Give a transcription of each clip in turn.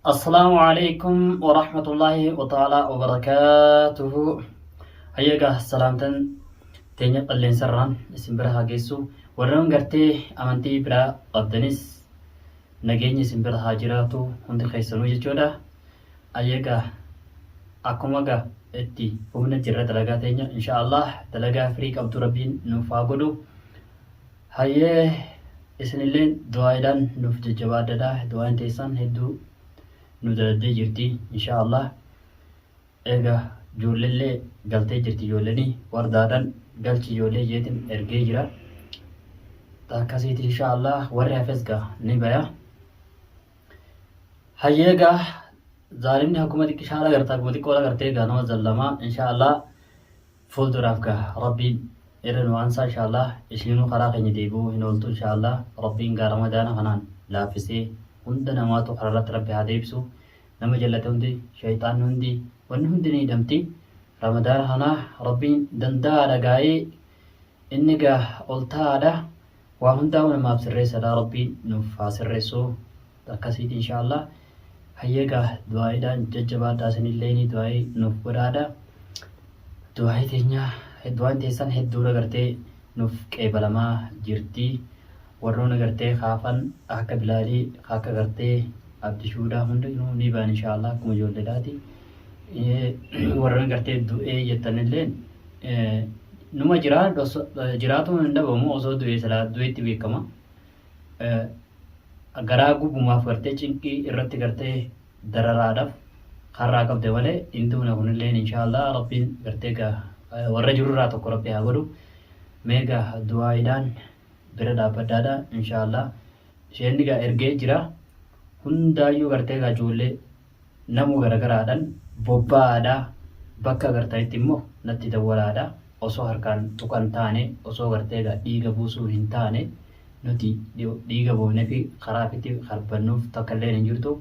Assalaamu alaikum wa rahmatullahi wa ta'ala wa barakaatuhu. Hayyaga salaamtan teenya qalleensarraan isin bira haa geessu. Warreen gartee amantii biraa qabdanis nageenyi isin bira haa jiraatu hundi keessanuu jechuudha. Hayyaga akkuma ga itti humna jirra dalagaa teenya inshaallah dalagaa firii qabdu rabbiin nuuf haa godhu. Hayyee isinilleen du'aayiidhaan nuuf jajjabaadhadha du'aayin teessan hedduu nu daladdee jirti inshaa allah eega joollellee galtee jirti joolleni wardaadhan galchi joollee jeetin ergee jira ta akkasiiti inshaa allah warri hafes gaa ni baya hayyee gaa zaalimni hakkuma xiqqishaadha garta akkuma xiqqoola gartee gaa nama zallamaa inshaa allah Fuulduraaf gaa Rabbiin irra nu aansaa inshaallaah ishiinuu karaa keenya deebi'uu hin ooltuu inshaallaah Rabbiin gaa Ramadaana kanaan laaffisee hunda namaatu karaarratti Rabbi haa deebisu nama jallate hundi sheyxaanni hundi wanni hundi ni hidhamti Ramadaana kana Rabbiin danda'aadha gaa'ee inni gaa ol ta'aadha waa hundaa'uu namaaf sirreessadha Rabbiin nuuf haa sirreessuu. akkasiiti inshaa Allah hayyee egaa du'aa'iidhaan jajjabaadhaa isinilleeni du'aa'ii nuuf godhaadha du'aa'ii teenyaa du'aan teessan hedduudha gartee nuuf qeebalamaa jirti warroona gartee kaafan akka bilaalii akka gartee abdishuudhaa hundinuu ni ba'an inshaa Allah akkuma ijoolleedhaati warroon gartee du'ee jettanilleen numa jiraa jiraatuma hin dhabamu osoo du'ee silaa du'eetti beekama garaa gubumaaf gartee cinqii irratti gartee dararaadhaf karraa qabde malee hin duuna kunilleen inshaallah rabbiin gartee ga warra jirurraa tokko rabbi haa godhu mee ga du'aaidhaan bira dhaabbaddaadha inshaallah isheen ga ergee jira hundaayyuu gartee ga ijoollee Namu garagaraadhan bobba'aadha bakka agartanitti immoo natti dawwalaadha osoo harkaan tuqan taane osoo gartee egaa dhiiga buusuu hin taane nuti dhiiga buufnefi karaa fiti karbannuuf takka illeen hin jirtu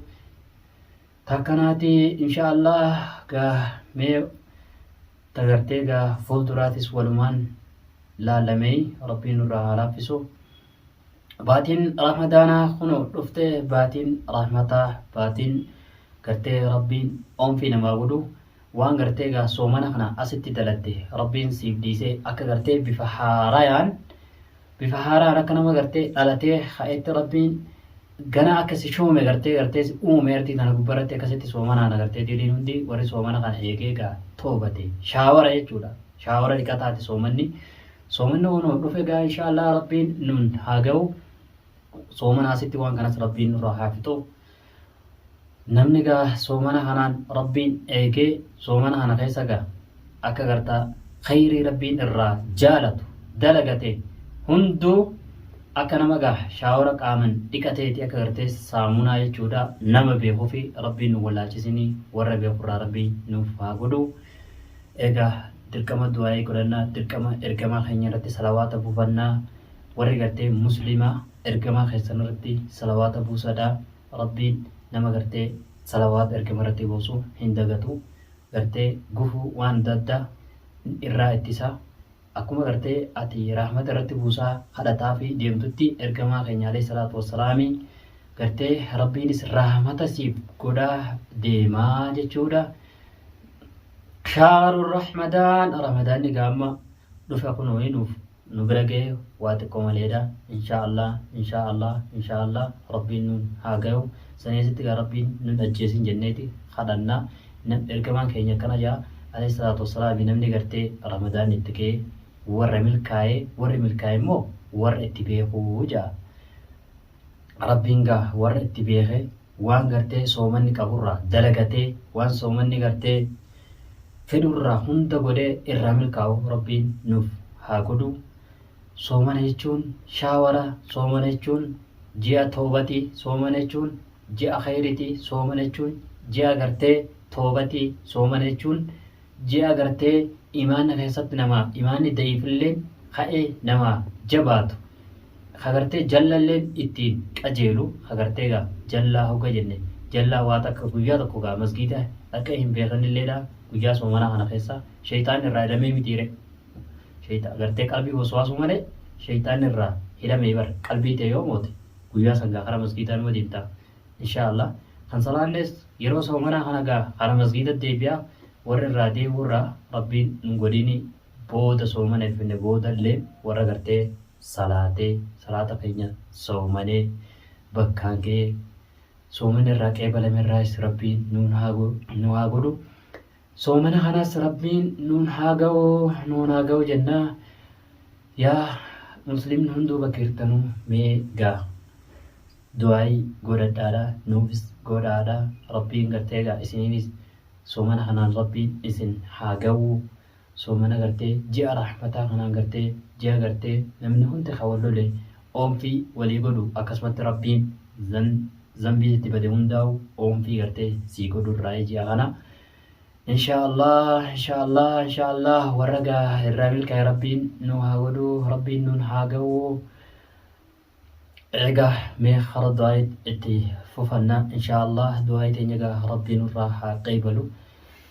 takkanaati inshaallah gaa mee tagartee gaa fuulduraatis walumaan laallameey rabbiin nurraa haa laaffisu baatiin ramadaanaa kunoo dhuftee baatiin rahmataa baatiin gartee rabbiin oomfii namaa godhu waan gartee egaa soomana kana asitti dalatte rabbiin siif dhiisee akka gartee bifa haarayaan bifa haaraan akka nama gartee dhalatee ka'etti rabbiin gana akka si shoome gartee gartee si uume artii kana gubbarratti akkasitti soomanaan agartee diriin hundi warri soomana kana eegee egaa toobate shaawara jechuudha shaawara dhiqataati soomanni Soomanni kun horduf egaa inshaallah rabbiin nun haa ga'u. Soomana asitti waan kanas rabbiin nurraa haa fixu. Namni egaa soomana kanaan rabbiin eegee soomana kana keessa egaa akka gartaa khayrii rabbiin irraa jaalatu dalagate hunduu akka nama egaa shaawara qaaman dhiqateeti akka gartee saamunaa jechuudha nama beekufi rabbiin nu wallaalchisinii warra beekurraa rabbiin nuuf haa godhu. Eegaa dirqama du'aa'ii godhannaa dirqama ergamaa keenya irratti salawaata buufannaa warri gartee muslima ergamaa keessan irratti salawaata buusadha rabbiin nama gartee salawaata ergama irratti buusu hin dagatu gartee gufuu waan adda addaa irraa ittisa Akkuma garte ati rahmata irratti buusaa kadhataafi deemtutti ergamaa keenya aleyh salaatu wassalaami garte rabbiinis rahmata siif godhaa deemaa jechuudha. Shaaru rahmadaan ramadaanni gaamma dhufe kunoo hinuuf nu bira gahe waa xiqqoo maleedha inshaa allah inshaa allah inshaa allah rabbiin nuun haa gahu saniisitti gaa rabbiin nun ajjeesin jenneeti kadhanna. Nab ergamaan keenya akkana ja'a, Aleyh salaatu wassalaami, namni gartee ramadaanni itti ga'e warra milkaaye, warri milkaaye immoo warra itti beeku ja'a. Rabbiin gaa warra itti beeke waan gartee soomanni qaburraa dalagatee waan soomanni gartee fedhurraa hunda godhee irraa milkaa'u Rabbiin nuuf haa godhu. Soomana jechuun shaawara, soomana jechuun ji'a toobatii, soomana jechuun ji'a kheeyriti soomana jechuun ji'a gartee toowbati soomana jechuun ji'a gartee imaanni kheeysatti nama imaanni da'iifilleen ka'e nama jabaatu kha gartee jallalleen ittiin qajeelu kha gartee gaa jallaa hogga jenne jallaa waa takka guyyaa tokko gaa masgiida dhaqee hin beekhnilleedha guyyaa soomanaa khana kheeysa sheeyxaanni irraa hidhamee mitiire sheeyxaa gartee qalbii waswaasuu malee sheeyxaanni irraa hidhamee bar qalbii tee yoo moote Guyyaa san gaa kara masgiidaa numa deemta inshaa Allah. Kan salaannees yeroo soomanaa kana gaa kara masgiida deebi'a. Warri irraa deebi'u irraa Rabbiin nun godhiini booda soomana hin finne booda illee warra gartee salaatee salaata keenya soomanee bakkaan ga'ee soomanni irraa qeebalame irraayis Rabbiin nuun haa godhu. Soomana kanas Rabbiin nuun haa gahu nuun haa gahu jenna yaa muslimni hunduu bakka jirtanuu mee gaa du'aayi godhadhaadha nuufis godhaadha Rabbiin gartee gaa isiniinis soomana kanaan Rabbiin isin haa gahu soomana gartee ji'a rahmataa kanaan gartee ji'a gartee namni hundi kan wal lole Oomfii walii godhu akkasumatti rabbiin zan zanbii sitti bade hundaawu oomfii gartee sii godhu irraayi ji'a kana inshaa allah inshaa allah inshaa allah warra gaa irraa milkaa'e rabbiin nu haa godhu rabbiin nuun haa ga'u egaa mee hara du'aayi itti fufanna inshaa allah du'aayi teenya gaa rabbiin irraa haa qeebalu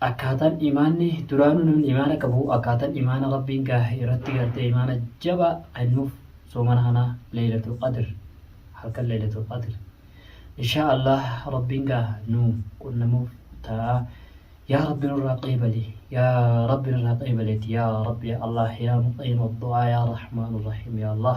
Akkaataan imaanni duraanuu namni imaana qabu akkaataan imaana Rabbiin gaahe irratti gartee imaana jabaa kennuuf soomana kana leeylatul qadr halkan leeylatul qadr inshaa Allah Rabbiin gaa nu qunnamuuf ta'a yaa Rabbi nurraa qeebali yaa Rabbi nurraa qeebaleeti yaa Rabbi yaa Allah yaa muqiima du'aa yaa Rahmaanu Rahiim yaa Allah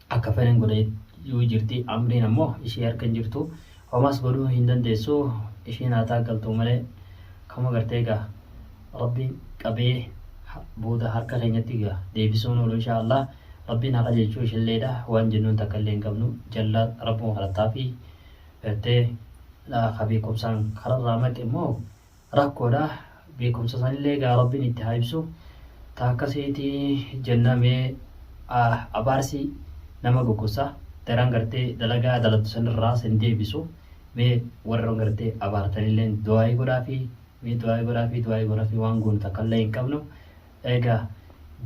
Akka fedhen godhe yuu jirti amriin ammo ishee harka hin jirtu homaas godhuu hin dandeessu isheen haa taaggaltuu malee kama gartee gaa rabbiin qabee booda harka keenyatti gaa deebisuun oolu inshaa allah rabbiin haa qajeelchuu ishelleedha waan jennuun takka illee hin qabnu jalla rabbuma kadhattaafi gartee kaa beekumsaan kararraa maqe immoo Rakkoodha beekumsa sanillee egaa rabbiin itti haa ibsu ta akkasiiti jenna mee abaarsi nama gogosa daran gartee dalagaa daladdu sanirraa sin deebisu mee warra gartee abaartanilleen du'aa'ii godhaafi mee du'aa'ii godhaafi du'aa'ii godhaafi waan goonu takkallee hin qabnu egaa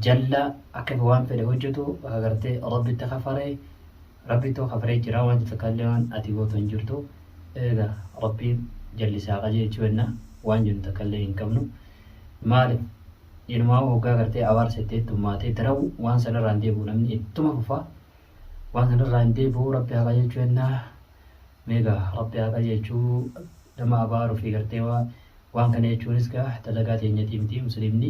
jalla akka waan fedhe hojjetu akka gartee rabbitti kafaree Rabbittu kafree jiraa wanti takkallee waan ati gootu hin jirtu eega Rabbiin jallise haa qajeelchu jenna waan jennu takkallee hin qabnu maalif inumaahuu hoggaa gartee abaarsa itti heddummaate itti rawu waan sanirraa hin deebi'u namni ittuma fufa waan sanirraa hin deebi'u Rabbi haa qajeelchu jenna meega Rabbi haa qajeelchu nama abaaru fi gartee waan kana jechuunis gaa dalagaa teenyatii miti musliimni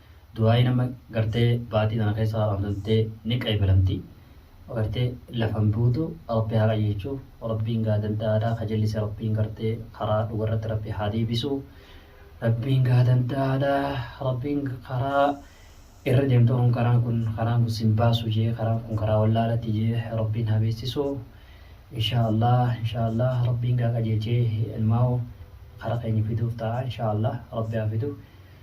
Du'aayiin amma gartee baatii tana keessa haramtantee ni qeebalamti. Gartee lafan buutu Rabbi haa qajeelchu. Rabbiin gaa danda'aadha. Ka jallise Rabbiin gartee karaa dhugarratti Rabbi haa deebisu. Rabbiin gaa danda'aadha. Rabbiin karaa irra deemtu kun karaan kun karaan kun sin baasu jee karaan kun karaa wallaalatti jee Rabbiin haa beeksisu. Inshaa Allah inshaa Allah Rabbiin gaa qajeelchee ilmaa'u kara keenya fiduuf ta'a inshaa Allah Rabbi haa fidu.